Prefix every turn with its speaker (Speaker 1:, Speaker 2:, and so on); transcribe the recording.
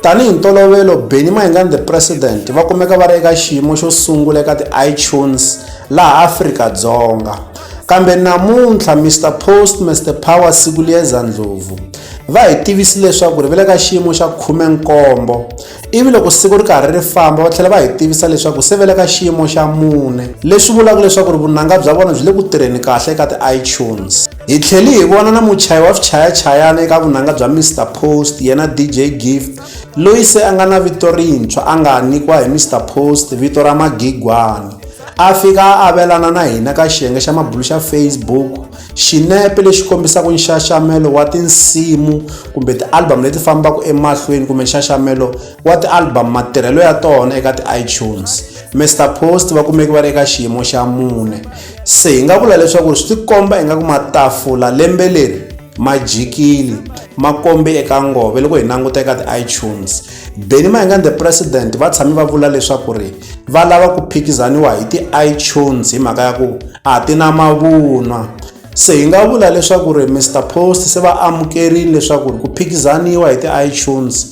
Speaker 1: Tanihi ntolovelo, Benny Mayinga and the President va kumeka va ri eka xiyimo xo sungula eka ti-iTunes laha Afrika-Dzonga. Kambe namuntlha Mr Post Mr Power Sikuliyeza Ndlovu va hi tivisi leswaku ri va le ka xiyimo xa khumenkombo ivi loko siku ri karhi ri famba va tlhela va hi tivisa leswaku se va le ka xiyimo xa mune leswi vulaka leswaku ri vunanga bya vona byi le ku tirheni kahle eka ti-iTunes. Hi tlhele hi vona na muchayi wa swichayachayana eka vunanga bya Mister Post yena DJ Gift loyi se a nga na vito rintshwa a nga nyikiwa hi Mister Post vito ra Magigwani. A fika a avelana na hina ka xiyenge xa mabulu xa Facebook xinepe lexi kombisaka nxaxamelo wa tinsimu kumbe ti-album leti fambaka emahlweni kumbe nxaxamelo wa ti-album matirhelo ya tona eka ti-iTunes. Mister Post va kumeke va ri eka xiyimo xa mune. se hi nga vula leswaku swi tikomba ingaku matafula lembe leri ma jikile ma kombe eka ngove loko hi languta eka ti-itunes beni maingani the president va tshame va vula leswaku ri va lava ku phikizaniwa hi ti-itunes hi mhaka ya ku a ti na mavunwa se hi nga vula leswaku ri mr post se va amukerile leswaku ri ku phikizaniwa hi ti-itunes